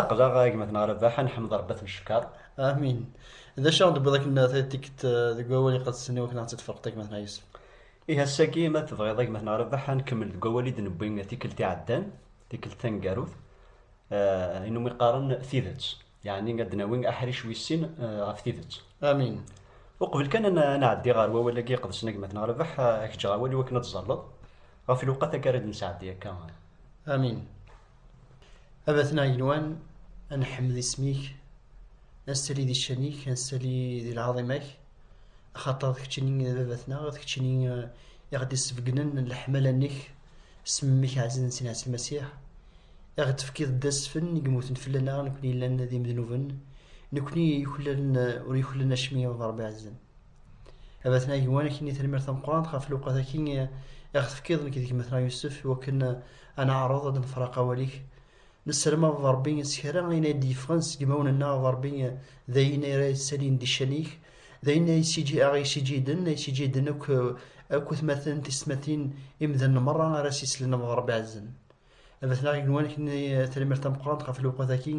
Aqlaɣ a gma neɣ Rabaḥ a nḥemd Rebbi a t-ncekkeṛ. Amin. D acu ara aɣ-d-tewwiḍ akken ad tikked deg wawal iqedsen iwakken ad aɣ-tt-id-tferqeḍ a gma neɣ Yusef? Ihi ass-agi ma tebɣiḍ a gma neɣ Rabaḥ a nkemmel deg wawal i d-newwi tikkelt iɛeddan, tikkelt taneggarut, i numi qqaren tidet, yeɛni ad d-nawi aḥric wis sin ɣef tidet. Amin. Uqbel kan ad nɛeddi ɣer wawal-agi iqedsen a gma neɣ Rabaḥ a k-ǧǧeɣ awal iwakken ad d-tzerleḍ ɣef lewqat akka ara d-nesɛeddi akka. Amin. Abatna yenwan, ad nḥemmed isem-ik, ad nessali di ccan-ik, ad nessali di lɛaḍima-k, axaṭer d keččini i d baba-tneɣ, d keččini i ɣ-d-isbeggnen leḥmala-nnek s mmi-k ɛzizen Sidi Ɛisa Lmasiḥ, i ɣ-d-tefkiḍ d asfen i yemmuten fell-aneɣ nekkni yellan d imednuben, nekkni yuklalen ur yuklalen acemmi a baba Ṛebbi ɛzizen. Abatna gwan akken i termir tameqqrant ɣef lewqat-agi i ɣ-tefkiḍ nekk d gma-tneɣ Yusef wakken ad neɛreḍ ad nefraq awal-ik. Nesserm a baba Rebbi s kra ayen ay d-yeffɣen seg yimawen-nneɣ a baba Rebbi d ayen ay ara yessalin di ccan-ik d ayen ay aɣ-yessijjiden ay ssijjiden akk akk atmaten tistmatin imdanen merra ara s-yeslen a baba Rebbi ɛezzem. Abatna gwan akken i termir tameqqrant ɣef lewqat-agi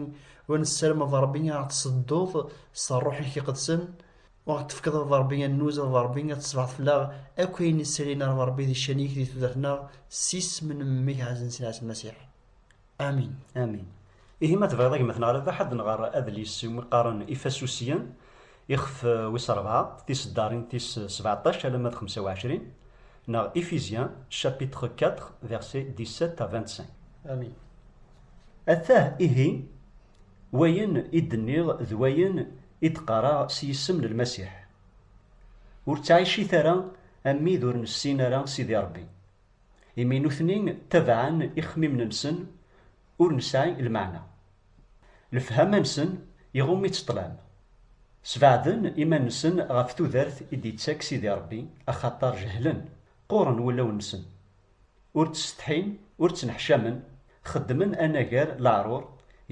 wa nesserm a baba Rebbi a ɣ-tessedduḍ s ṛṛuḥ-ik iqedsen Ma ɣ-d-tefkeḍ a baba Ṛebbi annuz, a baba Ṛebbi, ad tesbeḥ fell-aɣ akk ayen i srin a Ṛebbi Ṛebbi di ccan-ik di tudert-nneɣ s isem n Mmi-k ɛzizen s Ɛisa Lmasiḥ. Amin. Amin. Ihi ma tebɣiḍ a gma-tneɣ Rabaḥ ad nɣer adlis iwumi qqaren Ifasusyen, ixef wis rebɛa, tiseddarin tis sebeɛṭac alamma d xemsa u ɛecrin, neɣ Ephésiens chapitre quatre versets dix-sept à vingt-cinq. Amin. Atah ihi. Wayen i d-nniɣ d wayen i d-qqareɣ s yisem n Lmasiḥ. Ur ttɛicit ara am wid ur nessin ara Sidi Ṛebbi, imi nutni ttabaɛen ixemmimen-nsen ur nesɛi lmeɛna. Lefhama-nsen iɣumm-itt ṭṭlam. Sbeɛden iman-nsen ɣef tudert i d-ittak Sidi Ṛebbi axaṭer jehlen, qquren wulawen-nsen, ur ttsetḥin, ur ttneḥcamen, xeddmen anagar leɛrur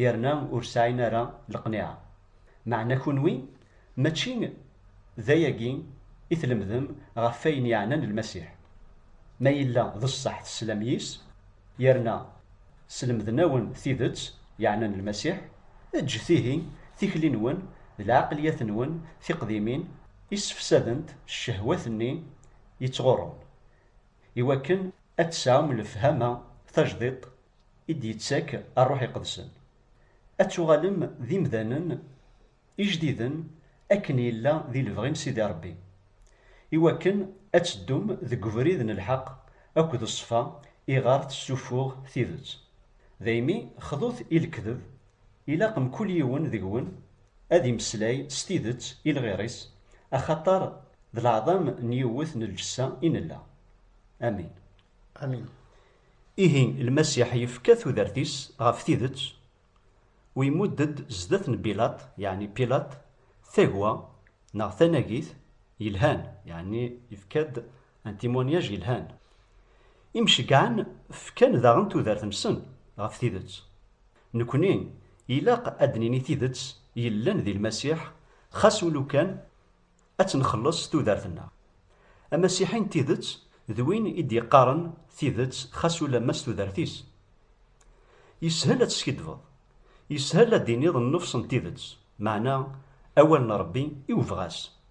yerna ur sɛin ara leqniɛa. Meɛna kunwi mačči d ayagi i tlemdem ɣef wayen yeɛnan Lmasiḥ? Ma yella d ṣṣeḥ teslam yis, yerna slemden-awen tidet yeɛnan Lmasiḥ, eǧǧet ihi tikli-nwen d lɛeqliyat-nwen tiqdimin i ssefsadent ccehwat-nni yettɣurrun. i wakken ad tesɛum lefhama tajdiṭ i d-yettak Rruḥ Iqedsen, ad tuɣalem d imdanen ijdiden akken yella di lebɣi n Sidi Ṛebbi, i wakken ad teddum deg ubrid n lḥeq akked ṣṣfa iɣer tessuffuɣ tidet. Daymi xḍut i lekdeb Ilaq mkul yiwen deg-wen ad immeslay s tidet i lɣir-is, axaṭer d leɛḍam n yiwet n lǧessa i nella. Amin. Amin. Ihi, Lmasiḥ yefka tudert-is ɣef tidet, u imudd-d zdat n Bilaṭ, yeɛni Pilaṭ, tagwa, neɣ tanagit, yelhan, yeɛni yefka-d un témoignage yelhan. Imceggɛen fkan daɣen tudert-nsen ɣef tidet. Nekni, ilaq ad d-nini tidet yellan di Lmasiḥ, xas ulukan ad tt-nxelleṣ tudert-nneɣ. Amasiḥi n tidet d win i d-yeqqaren tidet xas ulamma s tudert-is. Yeshel ad teskiddbeḍ, yeshel ad d-tiniḍ nnefṣ n tidet, meɛna awal n Rebbi i webɣas,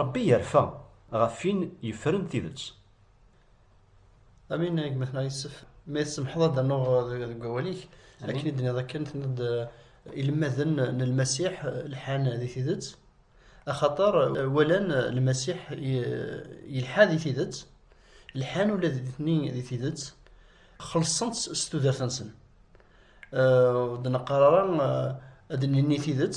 Ṛebbi yerfa ɣef win yeffren tidet. Amin a gma-tneɣ Yessef, ma i tsemḥeḍ ad d-rnuɣ deg wawal-ik, akken i d-tenniḍ akken, tenniḍ-d ilemmaden n Lmasiḥ lḥan di tidet, axaṭer walan Lmasiḥ yelḥa di tidet, lḥan ula d nitni di tidet, xellṣen-tt s tudert-nsen. Ur d-neqqar ara ad d-nini tidet.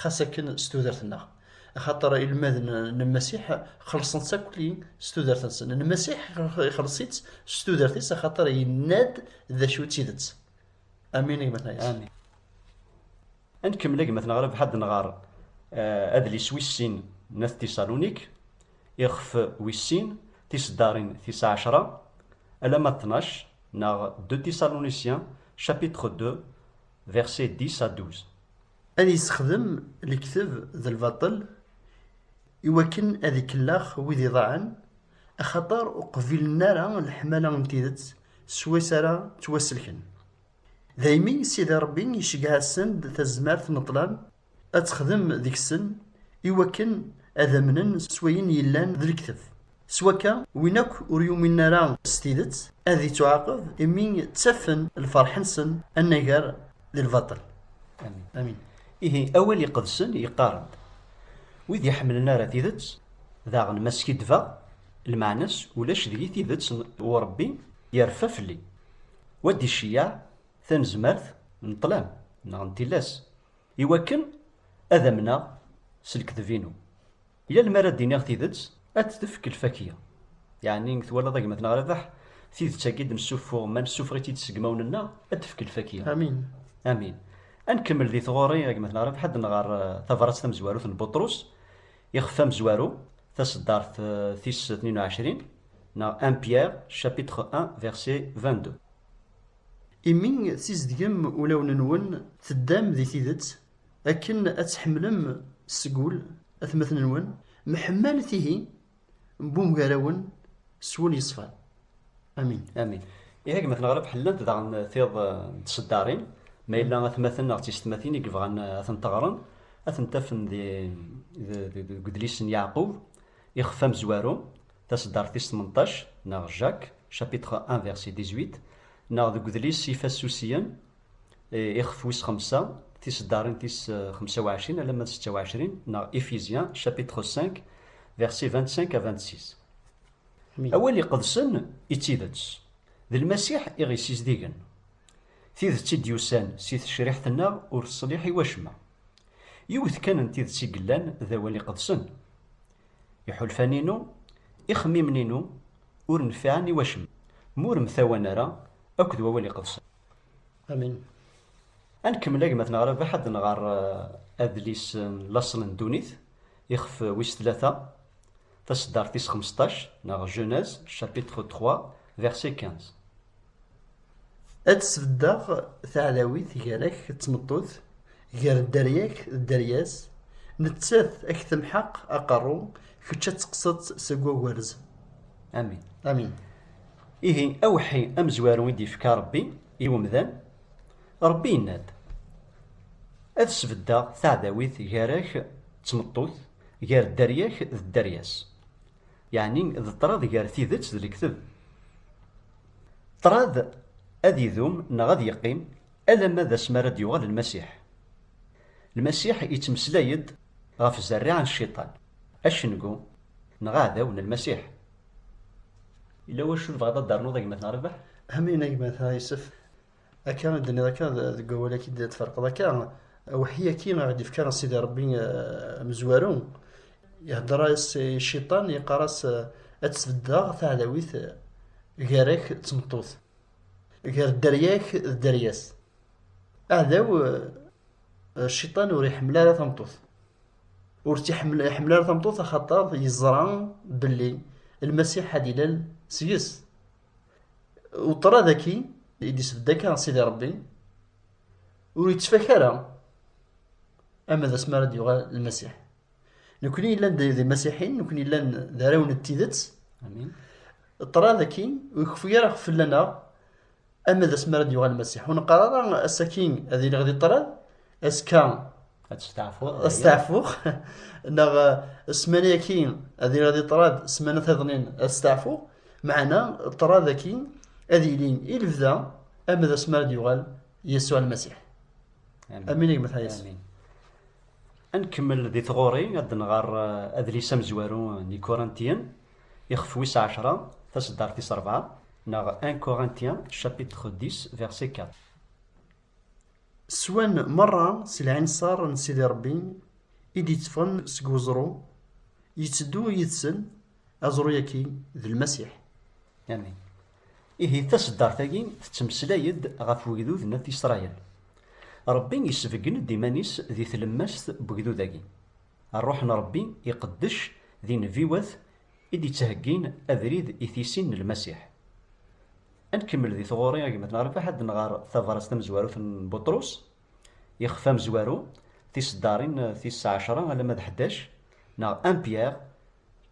xas akken s tudert-nneɣ axaṭer ilmaden n Lmasiḥ xelṣen-tt akli s tudert-nsen n Lmasiḥ ixelṣ-itt s tudert-is axaṭer yenna-d d acu d tidet amin a gmatna yes amin ad nkemmel a gmatna ɣrab ḥad nɣar eh, adlis wis sin n at tisalunik ixef wis sin tiseddarin tis ɛecra alama 12 neɣ de tisaluniciens chapitre 2 verset 10 à 12 Ad yessexdem lekteb d lbaṭel i wakken ad ikellax wid iḍaɛen, axaṭer ur qbilen ara leḥmala n tidet s wass ara ttwasselken. Daymi Sidi Ṛebbi iceggeɛ-asen-d tazmert n ṭṭlam ad texdem deg-sen i wakken ad amnen s wayen yellan d lekteb. S wakka, win akk ur yuminen ara s tidet, ad ittuɛaqeb imi ttafen lferḥ-nsen anagar di lbaṭel. Amin. Amin. Ihi, Awal Iqedsen yeqqar-d, Wid iḥemmlen ara tidet, daɣen ma skiddbeɣ, lmeɛna-s ulac deg-i tidet n Urebbi yerfa fell-i. Wa d-iceyyeɛ tanezmart n ṭṭlam neɣ n tillas, iwakken ad amneɣ s lekdeb-inu. Yal mi ara d-iniɣ tidet, ad d-tefk lfakya. Yeɛni, twalaḍ a gma-tneɣ Rabeḥ, tidet-agi i d-nessuffuɣ, ma nessufeɣ-itt-id s yegmawen-nneɣ, ad d-tefk lfakya. Amin. Amin. Ad nkemmel di tɣuri, a gma-tneɣ Rabeḥ, ad nɣer tabrat tamezwarut n Buṭrus, ixef amezwaru, taṣeddart tis tnin u ɛecrin, neɣ un Pierre, chapitre un, verset vingt-deux. Imi tzedgem ulawen-nwen, teddam di tidet, Akken ad tḥemmlem seg ul atmaten-nwen, mḥemmalet ihi n wemgarawen s wul yeṣfan. Amin. Amin. Ihi gma tneɣreb ḥellant daɣen tiḍ n tseddarin, ma yella atmaten neɣ d tisetmatin i yebɣan ad tent-ɣren, ad tent-afen di, deg udlis n Yeɛqub, ixef amezwaru, taseddart tis tmenṭac, neɣ Jacques, chapitre 1 verset 18, neɣ deg udlis Ifassusiyen, Eh, ixef wis xemsa tiseddarin tis eh, xemsa u ɛecrin alamma d setta u ɛecrin neɣ Ephésiens chapitre 5 verset 25 à 26 awal iqedsen i d tidet d lmasiḥ i ɣ-yessizdigen tidet i d-yusan si tecriḥt-nneɣ ur teṣliḥ i wacemma yiwet kan n tidet i yellan d awal iqedsen iḥulfan-inu ixemmimen-inu ur nfiɛen i wacemma m'ur mtawan ara akked wawal iqedsen Amin. Ad nkemmel agmat neɣ rabaḥ ad nɣer eh, adlis eh, n laṣel n ddunit ixef eh, wis tlata taseddart is 15 neɣ Genèse chapitre 3 verset 15. Ad sbeddeɣ taɛdawit gar-ak d tmeṭṭut, gar dderya-k d dderya-s, nettat ad k-temḥeq aqerru, kečč ad teqqseḍ seg wagerz. Amin. Amin. Ihi awḥi amezwaru i d-yefka Ṛebbi i umdan, Ṛebbi yenna-d, Ad sbeddeɣ taɛdawit gar-ak d tmeṭṭut, gar dderya-k d dderya-s. Yeɛni d ṭṭrad gar tidet d lekteb. Ṭṭrad ad idum neɣ ad yeqqim alamma d asmi ara d-yuɣal Lmasiḥ. Lmasiḥ yettmeslay-d ɣef zerriɛa n Cciṭan, acengu neɣ aɛdaw n Lmasiḥ. Yella wacu tebɣaḍ ad d-ternuḍ a gma-tneɣ Rabaḥ? Amin a gma-tneɣ Yusef, akka i d-tenniḍ akka deg wawal-agi d-tferqeḍ akka, awḥi-agi i ɣ-d-ifka Sidi Rebbi amezwaru, ihedder-as i Ciṭan, yeqqar-as ad tt-beddeɣ taɛdawit gar-ak d tmeṭṭut, gar dderya-k d dderya-s. Aɛdaw, Ciṭan ur iḥemmel ara tameṭṭut. ur tt-iḥemmel iḥemmel ara tameṭṭut axaṭer yeẓra belli lmasiḥ ad ilal seg-s uṭra daki i d-isbedd akka sidi rebbi ur yettfaka ara ama d asmi ara d-yuɣal lmasiḥ nekni yellan d imasiḥin nekni yellan d araw n tidet ṭra daki ur ikeffu ara fell-aneɣ Ama d asmi ara d-yuɣal Masiḥ, ur neqqar ara ass-agi ad iliɣ di ṭṭrad, azekka ad steɛfuɣ, neɣ eh, ssmana-agi ad iliɣ di ṭṭrad, ssmana tiḍnin ad steɛfuɣ, meɛna ṭṭrad-agi ad ilin i lebda ama d asmi ara d-yuɣal Yasuɛ Lmasiḥ. Amin a gmat Hayes. Ad nkemmel di tɣuri ad nɣer eh, adlis amezwaru n Ikurantiyen. Ixef wis ɛecṛa, taseddart tis ṛebɛa, neɣ 1 Corinthiens chapitre 10 verset 4. Swan meṛṛa s lɛinṣer n Sidi Ṛebbi i d-yetteffɣen seg weẓru, yetteddu yid-sen, aẓru-yaki d Lmasiḥ. Amin. Ihi taseddart-agi tettmeslay-d ɣef wegdud n At Isṛayil. Ṛebbi yesbeggen-d iman-is di tlemmast n wegdud-agi. Rruḥ n Ṛebbi iqeddec d inebbiwet i d-ittheggin abrid i tisin n Lmasiḥ. Ad nkemmel di tɣuri a gma Tnarbeḥ ad nɣer tabrat tamezwarut n Buṭrus, ixef amezwaru, tiseddarin tis ɛecra alamma d ḥdac, neɣ 1 Pierre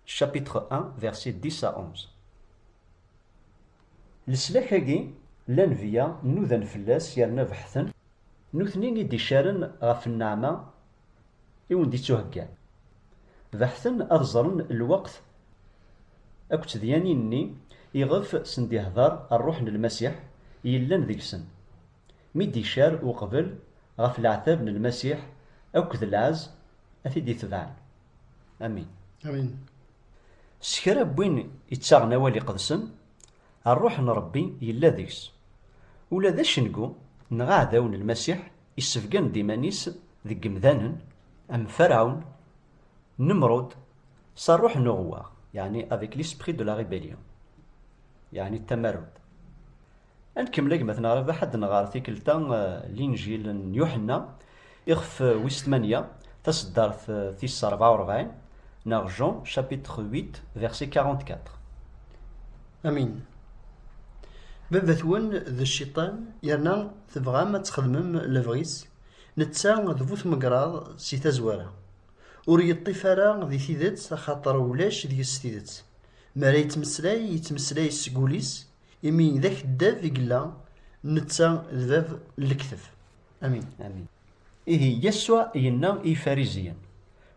chapitre 1 versets 10 à 11. Leslak-agi, llan viya, nudan fell-as yerna beḥten Nutni i d-iccaren ɣef nneɛma i wen-d-ittuheggan. Beḥten ad ẓren lweqt akked tedyanin-nni iɣef sen-d-ihder Rruḥ n Lmasiḥ yellan deg-sen, mi d-iccar uqbel ɣef leɛtab n Lmasiḥ akked lɛezz a t-id-itebɛen. Amin. Amin. S kra n win ittaɣen awal iqedsen, Rruḥ n Ṛebbi yella deg-s. Ula d acengu neɣ aɛdaw n Lmasiḥ issebgan-d iman-is deg yemdanen am Ferɛun, Nemrud, s rruḥ n uɣewwaɣ, yeɛni avec l'esprit de la rébellion, yeɛni tamarut. Ad nkemmel a gma-tneɣ Rabaḥ ad d-nɣer tikkelt-a Linǧil n Yuḥenna, Ixef wis tmanya, taseddart tis rebɛa u rebɛin, neɣ Jean chapitre 8 verset 44. Amin. Baba-twen d cciṭan, yerna tebɣam ad txedmem lebɣi-s, netta d bu tmegraḍ si tazwara. Ur yeṭṭif ara di tidet axaṭer ulac deg-s tidet. Mi ara yettmeslay, yettmeslay seg wul-is, imi d akeddab i yella, netta d bab n lekteb. Amin. Amin. Ihi Yasuɛ yenna i Yifariziyen,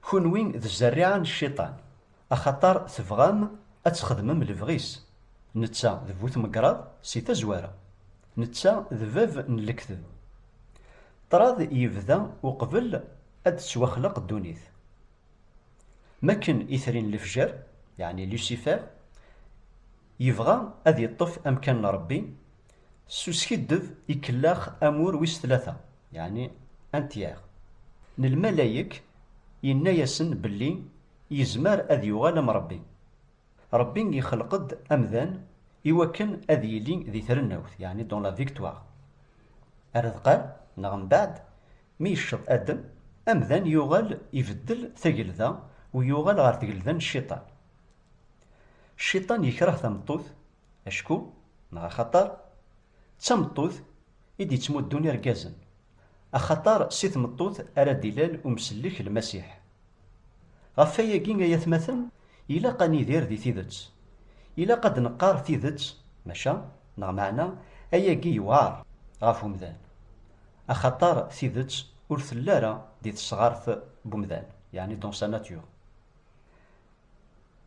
Kunwi d zzerriɛa n Cciṭan, axaṭer tebɣam ad txedmem lebɣi-s, netta d bu tmegraḍ si tazwara, netta d bab n lekdeb. Ṭṭrad yebda uqbel ad d-tettwaxleq ddunit. Mi akken itri n lefjer, yeɛni Lucifer, yebɣa ad yeṭṭef amkan n Ṛebbi, S uskiddeb ikellax amur wis tlata, yeɛni un tiers, n lmalayek, yenna-yasen belli yezmer ad yuɣal am Rebbi. Rebbi ixleq-d amdan iwakken ad yili di trennawt, yeɛni dans la victoire. Ar ad qal, neɣ mbaɛd, mi yecceḍ Adem, amdan yuɣal ibeddel tagelda u yuɣal ɣer tgelda n Cciṭan. Cciṭan yekreh tameṭṭut, Acku, neɣ axaṭer, d tameṭṭut i d-yettmuddun irgazen, axaṭer si tmeṭṭut ara d-ilal umsellek Lmasiḥ. Ɣef wayagi ay atmaten, ilaq ad nidir di tidet. Ilaq ad d-neqqar tidet, maca, neɣ meɛna, ayagi yewɛeṛ ɣef umdan. Axaṭer tidet ur telli ara di tesɣart n umdan, yeɛni dans sa nature.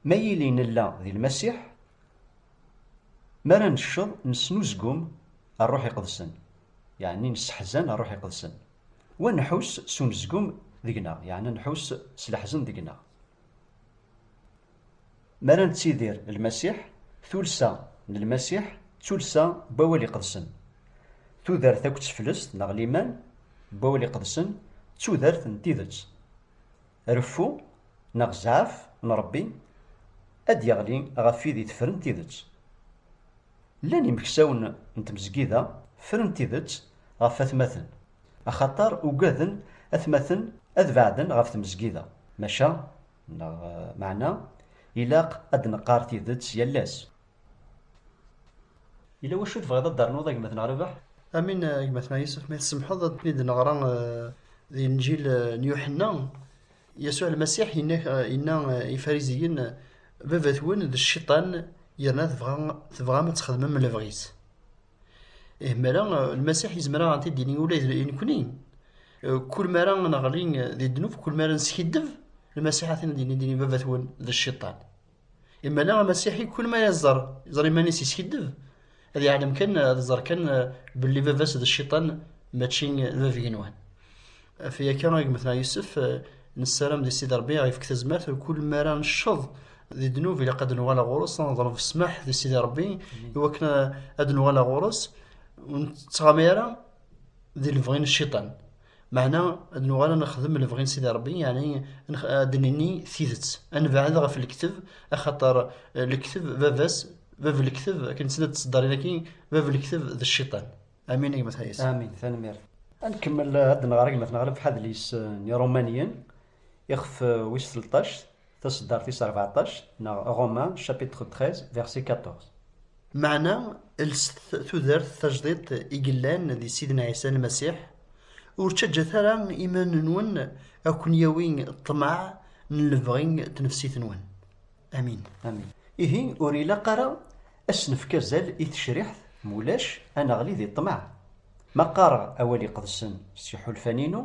Ma yili nella di Lmasiḥ, Mi ara necceḍ, nesnuzgum Rruḥ Iqedsen, yeɛni nesseḥzan Rruḥ Iqedsen, wa nḥus s unezgum deg-neɣ, yeɛni nḥus s leḥzen deg-neɣ. Mi ara nettidir Lmasiḥ, tulsa n Lmasiḥ d tulsa n wawal iqedsen. Tudert akked teflest neɣ liman n wawal iqedsen d tudert n tidet. Reffu neɣ zɛaf n Ṛebbi ad d-yeɣli ɣef wid itefren tidet. Llan imeksawen n tmezgida fren tidet ɣef atmaten, axaṭer ugaden atmaten ad beɛden ɣef tmezgida. Maca, neɣ meɛna, ilaq ad d-neqqar tidet yal ass. Yella wacu i tebɣiḍ ad d-ternuḍ a gma-tneɣ Rabeḥ? Amin a gma-tneɣ Yusef, ma tsemḥeḍ ad ten-id neɣra di Inǧil n Yuḥenna. Yasuɛ Lmasiḥ yenna, yenna i Ifariziyen, Baba-twen d Cciṭan, yerna tebɣa, tebɣam ad txedmem lebɣi-s. Ih, mi ara Lmasiḥ yezmer ad ɣ-t-id-yini ula d nekkni. Kul mi ara neɣli di ddnub, kul mi ara neskiddeb, Lmasiḥ ad t-id-yini, dini Baba-twen d Cciṭan. Imana amasiḥi kul ma yeẓẓar yeẓra iman-is yeskiddeb ad yeɛlem kan ad iẓer kan eh, belli baba-s d cciṭan mačči d bab-igenwan af yakka agmet neɣ yusef eh, nessaram di sidi rebbi aɣ-ifk tazmert kul mi ara necceḍ di ddnub ilaq ad nuɣal ɣur-s ad neḍleb ssmaḥ di sidi rebbi mm-hmm. iwakken eh, ad nuɣal ɣur-s ur nettɣama ara di lebɣi n cciṭan Meɛna ad nuɣal ad nexdem lebɣi n Sidi Ṛebbi, yeɛni ad d-nenni tidet, ad nebɛed ɣef lekteb, axaṭer lekteb baba-s, bab lekteb, akken tt-id ad ţ-ţeddarin akkin, bab lekteb d cciṭan. Amin a gma Tayas. Amin, tanemmirt. Ad nkemmel ad d-nɣer agmat-nneɣ ɣer lefḥadel-is n Iṛumaniyen, ixef wis tleṭṭact, Taseddart tis rbeɛṭac neɣ Romains chapitre 13 verset 14. Meɛna lset tudert tajdidt i yellan di Sidna Ɛisa Lmasiḥ, ur ttaǧǧat ara iman-nwen a ken-yawi ṭṭmeɛ n lebɣi n tnefsit-nwen. Amin. Amin. Ihi ur ilaq ara a s-nefk azal i tecriḥt mulac a neɣli di ṭṭmeɛ. Ma qqareɣ awal iqedsen s tiḥulfan-inu,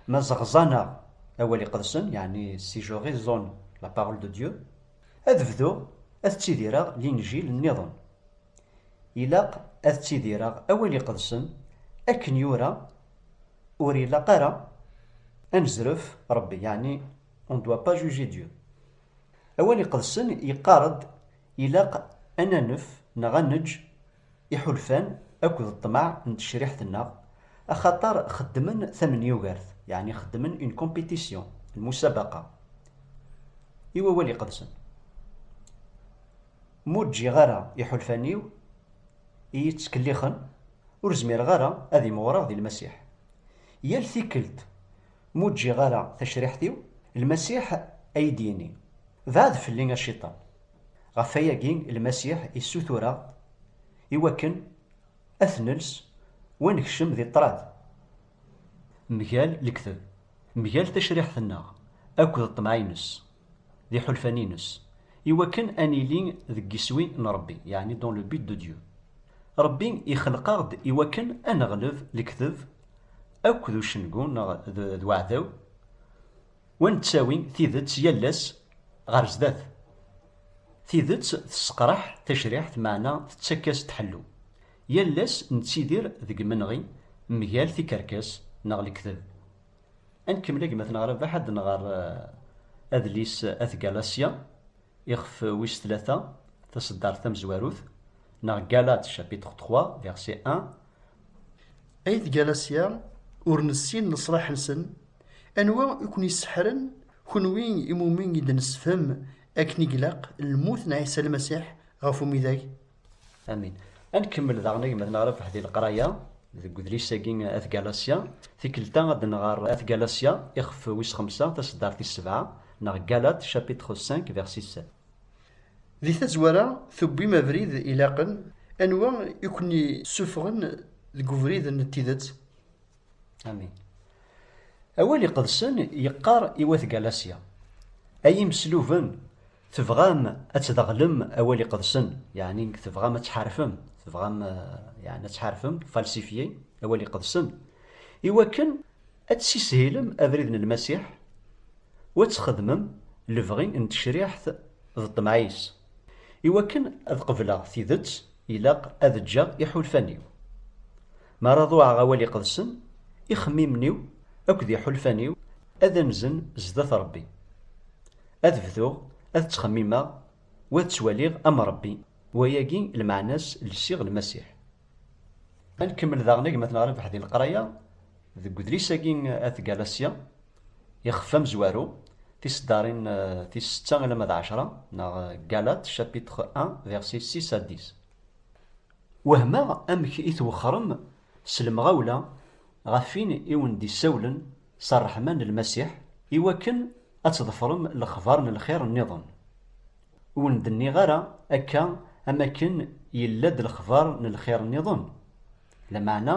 Mazeɣzana awal iqedsen, yani si je raisonne la parole de Dieu, ad bduɣ ad ttidireɣ linjil nniḍen. Ilaq ad ttidireɣ awal iqedsen akken yura ur ilaq ara ad nezref Rebbi, yani on ne doit pas juger Dieu. Awal iqedsen yeqqar-d ilaq ad nanef neɣ ad neǧǧ iḥulfan akked ṭṭmeɛ n tecriḥt-nneɣ, axaṭer xeddmen tamnyugert, yeɛni xeddmen une compétition, lmusabaqa, i Wawal Iqedsen. M'ur ǧǧiɣ ara iḥulfan-iw iyi-ttkellixen, ur zmireɣ ara ad imɣureɣ di Lmasiḥ. Yal tikkelt m'ur ǧǧiɣ ara tacriḥt-iw, Lmasiḥ a yi-d-yini, Beɛɛed fell-i a Cciṭan! Ɣef wayagi Lmasiḥ issutur-aɣ i wakken ad t-nels wa nekcem di ṭṭrad mgal lekdeb, mgal tacriḥt-nneɣ akked ṭṭmeɛ-ines d iḥulfan-ines, i wakken ad nili deg yiswi n Rebbi, yeɛni dans le but de Dieu. Rebbi ixleq-aɣ-d i wakken ad neɣleb lekdeb akked ucengu neɣ d uɛdaw, Wa nettawi tidet yal ass ɣer zdat. Tidet tesseqraḥ tacriḥt meɛna tettak-as-d ḥellu. Yal ass nettidir deg imenɣi mgal tikerkas neɣ lekdeb. Ad nkemmel a gma-tneɣ Rabaḥ ad nɣer adlis At Galasya, ixef wis tlata, taseddart tamezwarut, neɣ Galate chapitre trois verset un, Ay tgalasya ur nessin leṣlaḥ-nsen, anwa i ken-iseḥren kenwi imumi i d-nessefhem akken i ilaq lmut n Ɛisa Lmasiḥ ɣef umidag? Amin. A nkemmel daɣen agmad n Rabaḥ di leqraya deg udlis-agi At Galasya. Tikkelt-a ad nɣer At Galasya ixef wis xemsa taseddart tis sebɛa, neɣ Galat, chapitre 5, verset 7. Di tazwara, tewwim abrid ilaqen. Anwa i ken-yessuffɣen deg ubrid n tidet? Amin. Awal Iqedsen yeqqar i Wat Galasya, Ay imesluben, tebɣam ad tdeɣlem Awal Iqedsen, yeɛni tebɣam ad tḥarfem, tebɣam yeɛni ad tḥarfem, falsifier, Awal Iqedsen, iwakken Ad tessishilem abrid n Lmasiḥ u ad txedmem lebɣi n tecriḥt d ṭṭmeɛ-is. I wakken ad qebleɣ tidet, ilaq ad ǧǧeɣ iḥulfan-iw. Mi ara ḍuɛeɣ awal iqedsen, ixemmimen-iw akked iḥulfan-iw ad anzen zdat Rebbi. Ad bduɣ ad ttxemmimeɣ u ad ttwaliɣ am Rebbi, wayagi lmeɛna-s lsiɣ Lmasiḥ. Ad nkemmel daɣen agmat neɣ rebaḥ di leqraya deg udlis-agi At Galasya, ixef amezwaru, tiseddarin tis setta alamma d ɛecra, neɣ Galat, chapitre 1, versets 6 à 10. Wehmeɣ amek i twexxrem s lemɣawla ɣef win i wen-d-issawlen s rreḥma n Lmasiḥ, iwakken ad tḍefrem lexbar n lxir nniḍen. Ur wen-d-nniɣ ara akka am akken yella-d lexbar n lxir nniḍen? Lameɛna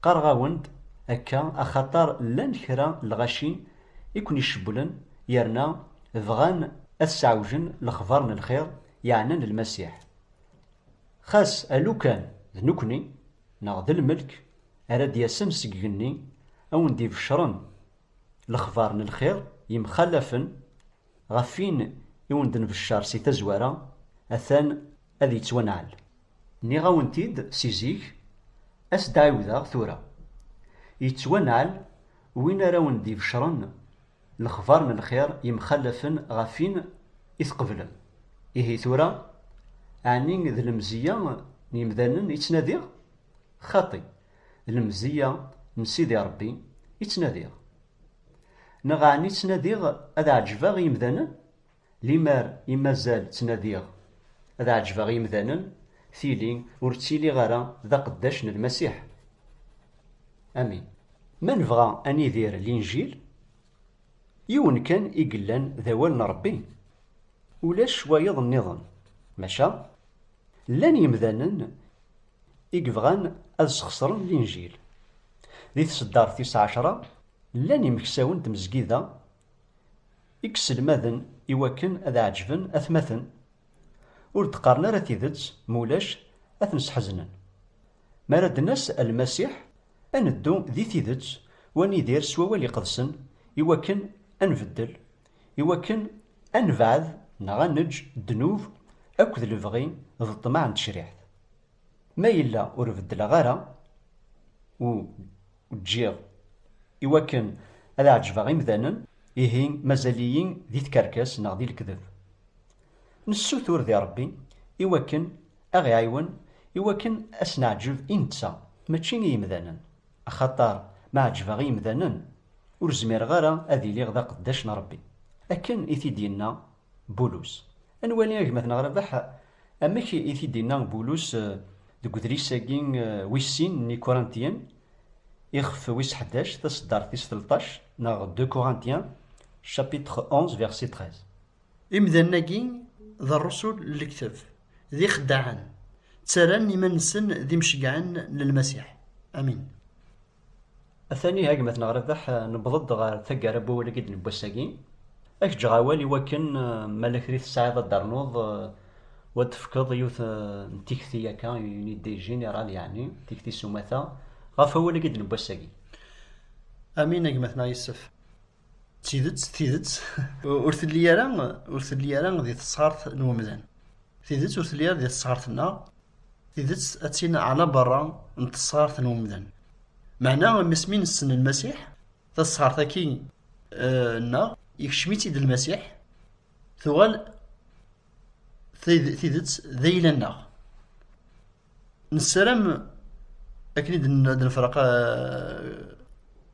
qqareɣ-awen-d akka axaṭer llan kra n lɣaci i ken-icewwlen yerna bɣan ad sseɛwjen lexbar n lxir yeɛnan Lmasiḥ. Xas alukan d nekkni neɣ d lmelk ara d-yasen seg igenni ad wen-d-ibecren lexbar n lxir yemxallafen Ɣef win i wen-d-nbeccer si tazwara, atan ad yettwanɛel. Nniɣ-awen-t-id si zik, ad s-d-ɛiwdeɣ tura. Yettwanɛel win ara wen-d-ibecren lexbar n lxir yemxallafen ɣef win i tqeblem. Ihi tura, ɛni d lemzeyya n yemdanen i ttnadiɣ? Xaṭi, d lemzeyya n Sidi Ṛebbi i ttnadiɣ. Neɣ ɛni ttnadiɣ ad ɛeǧbeɣ i yemdanen? Limer i mazal ttnadiɣ ad ɛeǧbeɣ i yemdanen, tili ur ttiliɣ ara d aqeddac n Lmasiḥ. Amin. Ma nebɣa ad nidir Linjil, yiwen kan i yellan d awal n Ṛebbi, ulac wayeḍ nniḍen. Maca llan yemdanen i yebɣan ad sxeṣren Linjil. Di tseddart tis ɛecṛa Llan yimeksawen n tmezgida i yesselmaden i wakken ad ɛeǧben atmaten, ur d-qqaren ara tidet, ma ulac ad ten-sḥeznen. Mi ara d-nas a Lmasiḥ, ad neddu di tidet u ad nidir s wawal iqedsen i wakken ad nbeddel, i wakken ad nebɛed neɣ ad neǧǧ ddnub akked lebɣi d ṭṭmeɛ n tecriḥt. Ma yella ur beddleɣ ara u ǧǧiɣ i wakken ad ɛeǧbeɣ imdanen, ihi mazal-iyi di tkerkas neɣ di lekdeb. Nessutur di Rebbi i wakken a ɣ-iɛiwen i wakken a s-neɛǧeb i netta, mačči i yimdanen, axaṭer ma ɛeǧbeɣ i yimdanen, ur zmireɣ ara ad iliɣ d aqeddac n Rebbi, akken i t-id-yenna Bulus. Ad nwali agmat-nneɣ Rabeḥ amek i t-id-yenna Bulus deg udlis-agi wis sin n Ikurantiyen, ixef wis ḥdac, taseddart tis telṭac, neɣ Deux Corinthiens, chapitre onze, verset treize. Imdanen-agi d rrusul n lekteb, d ixeddaɛen, ttarran iman-nsen d imceggɛen n Lmasiḥ. Amin. Atan iha gma-tneɣ Rabeḥ, newweḍ-d ɣer taggara n wawal-agi d newwi ass-agi. Ad k-ǧǧeɣ awal i wakken ma la kra i tesɛiḍ ad d-ternuḍ u ad d-tefkeḍ yiwet n tikti yakka, une idée générale yeɛni, tikti s umata, ɣef wawal-agi d newwi ass-agi. Amin a gma-tneɣ Yessef. D tidet, d tidet. Ur telli ara, ur telli ara di tesɣart n umdan. Tidet ur telli ara di tesɣart-nneɣ. Tidet ad tin ɛla berra n tesɣart n umdan. Meɛna mes mi nessen Lmasiḥ, tasɣart-agi eh, nneɣ, ikcem-itt-id Lmasiḥ, tuɣal tidet d ayla-nneɣ. Nessaram akken i d-nefreq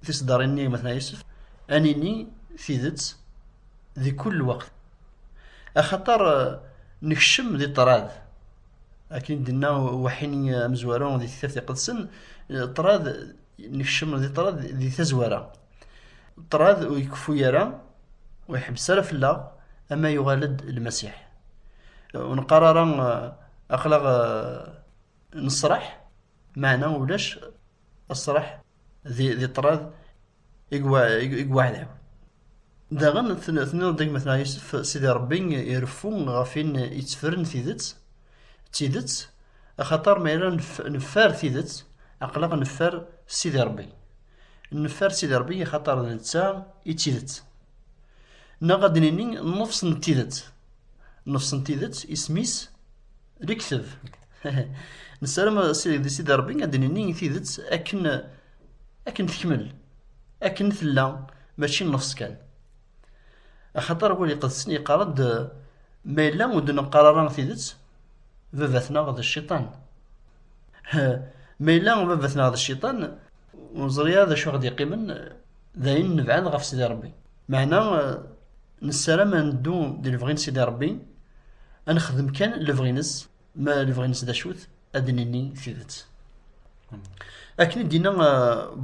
tiseddarin-nni gma-tneɣ Yusef, ad nini tidet di kul lweqt. Axaṭer nekcem di ṭṭrad, akken i d-inna waḥini amezwaru di Tektabt Iqedsen, ṭṭrad nekcem di ṭṭrad di tazwara, ṭṭrad ur ikeffu ara ur iḥebbes ara fell-aɣ ama yuɣal-d lmasiḥ ur neqqar ara aqlaɣ nesraḥ maɛna ulac asraḥ di, di ṭṭrad i gwaɛdaw daɣen tenniḍ-d gma tneɣ yusef sidi rebbi ireffu ɣef in yettefren tidet d tidet axaṭer ma yella neffer tidet aqlaɣ neffer sidi rebbi Neffer Sidi Ṛebbi axaṭer d netta i d tidet. Neɣ ad d-nini nnefṣ n tidet. Nnefṣ n tidet isem-is lekteb. Nessaram di Sidi Ṛebbi ad d-nini tidet akken akken tekmel, akken tella, mačči nnefṣ kan. Axaṭer wul iqedsen yeqqar-d ma yella ur d-neqqar ara tidet, baba-tneɣ d cciṭan. Ma yella baba-tneɣ d cciṭan, Ur neẓri ara d acu ɣ-d-iqqimen d ayen nebɛed ɣef Sidi Ṛebbi. Meɛna nessaram ad neddu di lebɣi n Sidi Ṛebbi, ad nexdem kan lebɣi-ines, ma lebɣi-ines d acu-t, ad d-nini tidet. Akken i d-yenna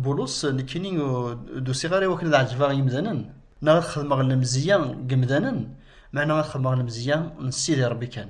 Bulus, nekkini ur d-usiɣ ara i wakken ad ɛejbeɣ yimdanen, neɣ ad xedmeɣ lemzeyya n yimdanen, meɛna ad xedmeɣ lemzeyya n Sidi Ṛebbi kan.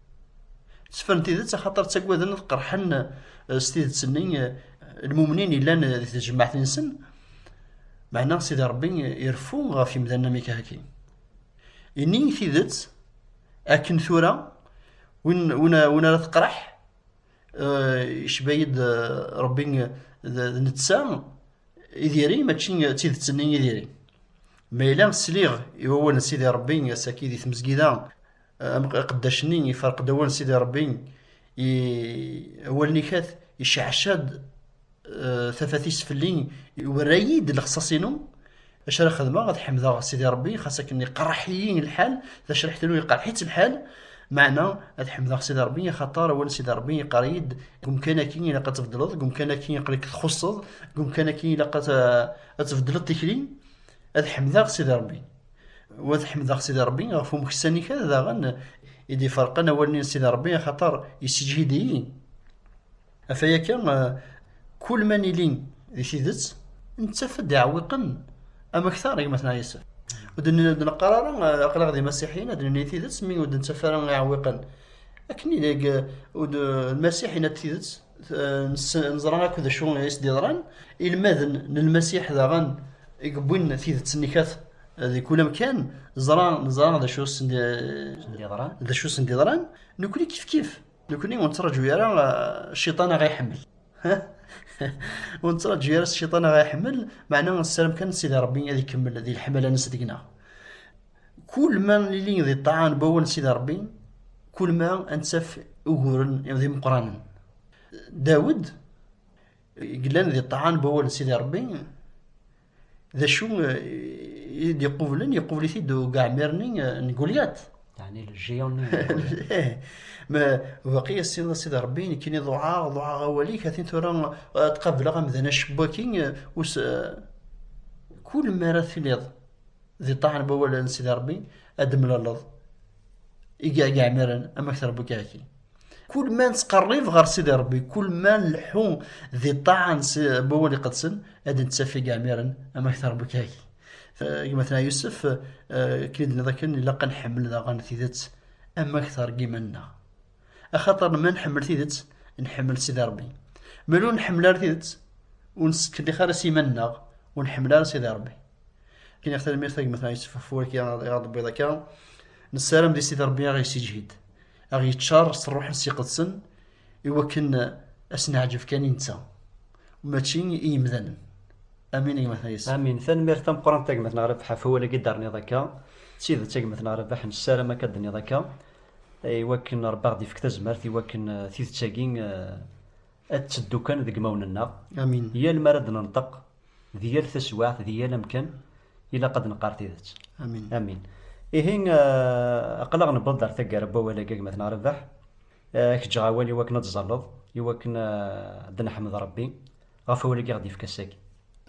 Sefren tidet axaṭer ttaggaden ad qerḥen eh, s tidet-nni eh, lmumnin yellan eh, di tejmaɛt-nsen, meɛna Sidi Ṛebbi ireffu ɣef yemdanen am ikehaki. Ini tidet akken tura win, win, win ara teqreḥ yecba-yi-d Ṛebbi d netta i diri mačči d tidet-nni i diri. Ma yella sliɣ i wawal n Sidi Ṛebbi ass-agi di tmezgida Amqeddac-nni iferq-d awal n Sidi Ṛebbi, awal-nni kat, iceɛceɛ-d eh, tafat-is fell-i, iwerra-yi-d lexṣaṣ-inu, acu ara xedmeɣ ad ḥemdeɣ Sidi Ṛebbi, xas akken iqerreḥ-iyi lḥal, tacriḥt-inu iqerreḥ-itt lḥal, meɛna ad ḥemdeɣ Sidi Ṛebbi, axaṭer awal n Sidi Ṛebbi iqerr-iyi-d deg umkan-agi ilaq ad tbeddleḍ, deg umkan-agi iqel-ik txuṣṣeḍ, deg umkan-agi ilaq ad tbeddleḍ tikli, ad ḥemdeɣ Sidi Ṛebbi. Wa tḥemdeɣ Sidi Rebbi ɣef umeksan-ik daɣen i d-iferqen awal-nni n Sidi Rebbi axaṭer yessejhid-iyi. Af aya kan, kul ma nili di tidet, nettaf-d iɛewwiqen am akteṛ i gma-tneɣ Yusef. Ur d-neqqar ara aql-aɣ d imasiḥiyen ad d-nini tidet mi ur d-nettaf ara iɛewwiqen. Akken i deg Lmasiḥ yenna-d tidet, neẓra akk d acu i s-d-yeḍran ilmaden n lmasiḥ daɣen i yewwin tidet-nni kat di kul amkan neẓra neẓra d acu sen-d-yeḍran d acu sen-d-yeḍran nekkni kifkif nekkni ur nettraǧu ara cciṭan aɣ iḥemmel ur nettraǧu ara cciṭan aɣ iḥemmel meɛna nessaram kan sidi rebbi ad ikemmel di leḥmala-nnes deg-neɣ Kul ma nili di ṭṭaɛa n wawal n Sidi Ṛebbi, kul ma ad nettaf uguren d imeqqranen. Dawed, yellan di ṭṭaɛa n wawal n Sidi Ṛebbi, d acu i d-iqublen? Iqubel-it-id ugeɛmir-nni n Gulyat. Ɛni le géant-nni? Ih, ma baqi as-tiniḍ a Sidi Ṛebbi, nekkini ḍuɛaɣ, ḍuɛaɣ awal-ik, atin tura ad qableɣ amdan acewwak-i, kul mi ara tiliḍ Di ṭṭaɛ n wawal n Sidi Ṛebbi ad d-temlaleḍ i yiɛmiren amek trebbu-k aki. Kul ma nettqerrib ɣer Sidi Ṛebbi, kul ma nleḥḥu di ṭṭaɛa n wawal iqedsen, ad d-nettaf i yiɛmiren amek trebbu-k aki. Gma-tneɣ Yusef, akken i d-tenniḍ akken, ilaq ad nḥemmel daɣen tidet amek terga iman-nneɣ. axaṭer ma nḥemmel tidet nḥemmel Sidi Ṛebbi ma ur nḥemmel ara tidet ur nettkelliq ara s iman-nneɣ ur nḥemmel ara Sidi Ṛebbi akken i ɣ-tanemmirt agmat n Yusef Furek i ɣ-d-tewwiḍ akka nessaram di Sidi Ṛebbi aɣ yessiǧhid aɣ yeččar s ṛṛuḥen s iqedsen i wakken ad s-neɛǧeb kan i netta mačči i yimdanen amin agmat n Yusef amin tanemmirt tameqqrant agmat n Ṛebḥa ɣef wawal-agi d-terniḍ akka d tidet agmat n Ṛebḥa nessaram akka d-tenniḍ akka I wakken Rebbi aɣ-d-ifek tazmert i wakken eh, tidet-agi eh, ad teddu kan deg imawen-nneɣ. Amin. Yal mi ara d-nenṭeq, di yal taswiɛt, di yal amkan, ilaq ad neqqar tidet. Amin. Amin. Ihi, eh, aql-aɣ newweḍ-d ar taggara n wawal-agi agmat neɣ Rabeḥ. Eh, Ad k-ǧǧeɣ awal i wakken ad tzalleḍ, i wakken eh, ad neḥmed Rebbi ɣef wawal-agi i aɣ-d-yefka ass-agi.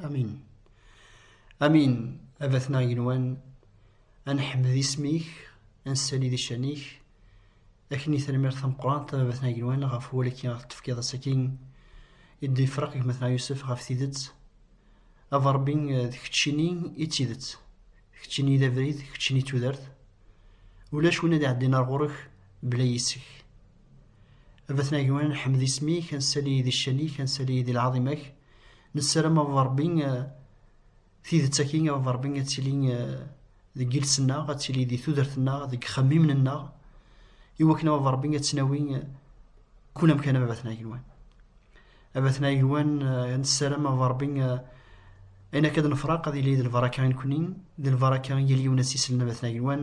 Amin. Amin. Abat-nneɣ igenwan, Ad neḥmed isem-ik, ad nessali di ccan-ik, akken i termirt tameqqrant tababat n agelwan ɣef wallaki ɣef tefkiḍ asaki i d-ifraq gmatneɣ Yusef ɣef tidet aba Rebbi d keččini i d tidet d keččini i d abrid d keččini i d tudert ulac win ad iɛeddin ar ɣur-k bla yis-k abaten agelwan nḥmed isem-ik ad nessali di ccan-ik ad nessali di lɛaḍima-k nessaram aba Rebbi Tidet aki a baba Rebbi ad tili eh, deg iles-nneɣ, ad tili di tudert-nneɣ, deg ixemmimen-nneɣ, i wakken a baba Rebbi ad tnawi eh, kul amkan a baba-tneɣ agelwan. A baba-tneɣ agelwan eh, nessaram a baba Rebbi ayen akka ad nefraq ad yili d lbaraka i nekni, d lbaraka i yal yiwen ad s-islen a baba-tneɣ agelwan,